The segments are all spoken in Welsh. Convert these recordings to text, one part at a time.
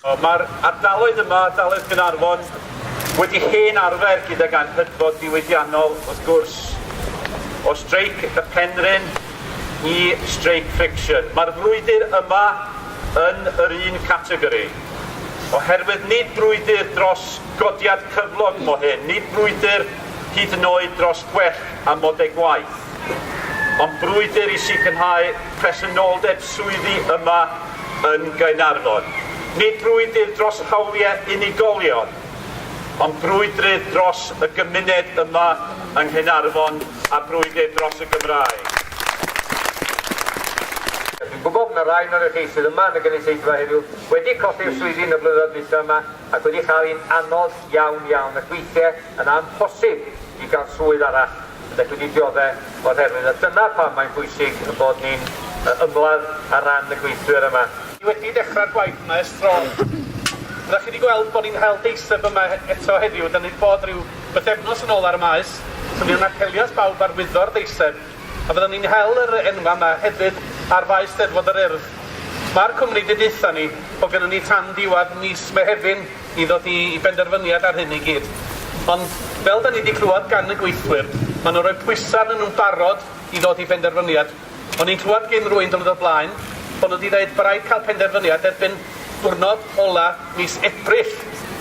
Mae'r ardaloedd yma, ardaloedd Caernarfon, wedi hen arfer gydag anghydfod diwydiannol, wrth gwrs, o streic y Penrhyn i streic Friction. Mae'r frwydr yma yn yr un categori, oherwydd nid brwydr dros godiad cyflog mo hyn, nid brwydr hyd yn oed dros gwell amodau gwaith, ond brwydr i sicrhau presenoldeb swyddi yma yn Gaernarfon. Nid brwydr dros hawliau unigolion, ond brwydr dros y gymuned yma yng Nghaernarfon a brwydr dros y Gymraeg. Dwi'n gwybod bod 'na rai ohonoch chi sydd yma yn y gynulleidfa heddiw wedi colli'ch swyddi yn y blynyddoedd dwytha yma ac wedi cael hi'n anodd iawn iawn ac weithiau yn amhosib i gael swydd arall Felly dwi'n diodde' o'r herwydd, a dyna pam mae'n bwysig ein bod ni'n ymladd ar ran y gweithwyr yma. Ni wedi dechrau'r gwaith yma ers tro. Fyddech chi wedi gweld bod ni'n hel deiseb yma eto heddiw, dan ni wedi bod rhyw bythefnos yn ôl ar y Maes, so fu'n apelias bawb ar wyddor deiseb, a fyddwn ni'n hel yr enwa' yma hefyd ar Faes Steddfod yr Urdd. Mae'r cwmni 'di deutha ni bod gynnon ni tan diwadd mis Mehefin. i ddod i i benderfyniad ar hyn i gyd. Ond, fel 'da ni 'di clywed gan y gweithwyr, ma' nhw'n rhoi pwysa' arnyn nhw'n barod i ddod i benderfyniad. O'n i'n clywed gin rywun diwrnod o'r blaen bo' nhw 'di ddeud bo' raid cael penderfyniad erbyn dwrnod ola mis Ebrill,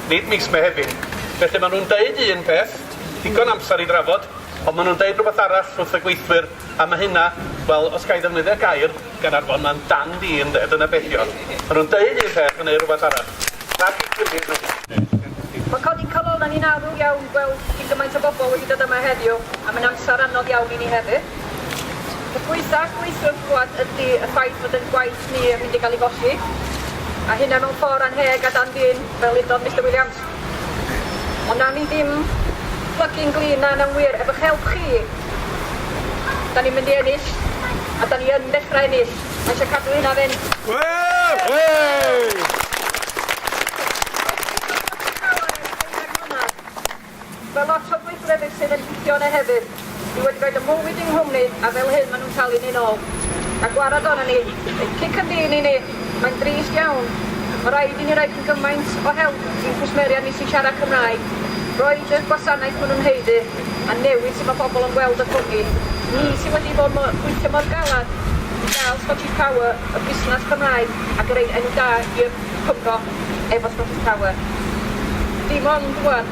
nid mis Mehefin. Felly, ma' nhw'n deud un peth, digon amser i drafod, ond ma' nhw'n deud rhywbeth arall wrth y gweithwyr. A ma' hynna, wel, os ga'i ddefnyddio gair gan Arfon, ma'n dan fi ynde, dyna be' 'di o. Ma' nhw'n deud un peth a neud rwbath arall. Rhag 'u gilydd nhw. Mae codi calonnau ni'n arw iawn gweld cyn gymaint o bobl wedi dod yma heddiw, a mae'n amser anodd iawn i ni hefyd. Peth gwaethaf gweithiwr wrth glywed ydy y ffaith fod ein gwaith ni yn mynd i gael ei golli, a hynna mewn ffordd annheg a dan fin, fel udodd Mister Williams. Ond nawn ni ddim plygu'n glin na nawn wir, efo'ch help chi, da ni'n mynd i ennill, a da ni yn dechrau ennill, mae eisiau cadw hynna fynd. Ww! Ww! Mae lot o'r gweithrewyr sydd yn picio yna hefyd, dwi wedi rhoid y mywyd yng nghwmni a fel hyn maen nhw'n talu ni'n ôl. A gwarad arnon ni, ein cic yn dyn i ni, mae'n drist iawn. Mae rhaid i ni roi cyn gymaint o help i'n cwsmeriaid ni sy'n siarad Cymraeg, roid y gwasanaeth maen nhw'n haeddu, a newid sut mae pobl yn gweld y cwmni. Ni sydd wedi bod mo- gweithio mor galed i gael Scottish Power, y busnes Cymraeg, ac yn rhoi enw da i'r Cymro efo Scottish Power. Dim ond rwan.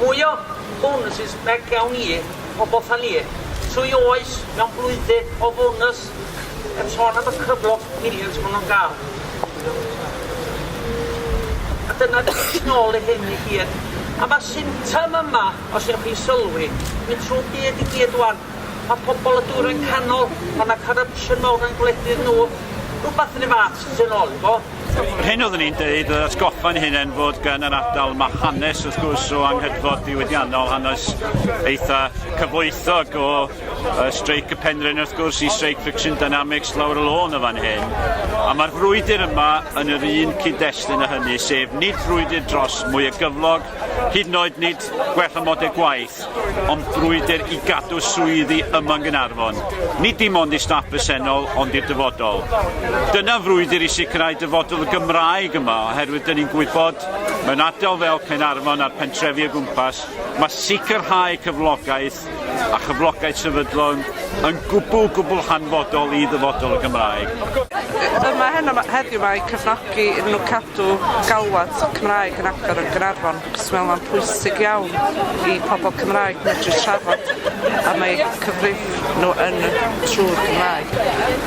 Mwya bonws is beg iawn i pobl tha ni. Trwy oes, mewn blwyddyn o fonws, heb son am y cyflog millions ma nhw'n gael. A dyna ni yn ôl i hyn i gyd. A mae'r symptom yma, os ewch chi sylwi, mynd trwy byd i gyd wan. Mae pobl y dwyrain canol, mae yna corruption mawr yn gwledydd nhw, rhywbeth yn y fath sy'n ôl i fo. Yr hyn oeddwn i'n dweud, oedd atgoffa'n hunain fod gan yr ardal ma hanes wrth gwrs o anghydfod diwydiannol, hanes eitha cyfoethog o uh, streic y penrhyn wrth gwrs i streic friction dynamics lawr y lôn y fan hyn. A mae'r frwydr yma yn yr un cyd-destun â hynny, sef nid frwydr dros mwy o gyflog, hyd yn oed nid gwell amodau gwaith, Ond brwydr i gadw swyddi yma yng Nghaernarfon, nid dim ond i staff presennol ond i'r dyfodol. Dyna frwydr i sicrhau dyfodol y Gymraeg yma oherwydd dyn ni'n gwybod mewn ardal fel Caernarfon a'r pentrefi o gwmpas mae sicrhau cyflogaeth a chyflogaeth sefydlog yn gwbl gwbl hanfodol i ddyfodol y Gymraeg. Yma heno heddiw mae cefnogi nhw cadw galwad Cymraeg yn agor yn Gaernarfon. Achos mae o'n pwysig iawn i pobl Cymraeg medru trafod am eu cyfrif nhw yn y trwy'r Gymraeg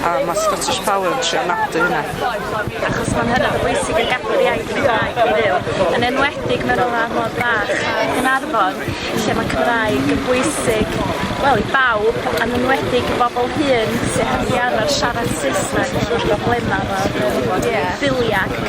a mae Scottish Power yn trio nodi hynna. Achos mae'n hynod bwysig i gadw'r iaith Gymraeg i fyw, yn enwedig mewn wlad mor fach a Caernarfon lle mae Cymraeg yn bwysig, wel, i bawb, yn enwedig i bobl hŷn sydd heb 'di arfer siarad Saesneg, efo problemau efo biliau ac yn y blaen.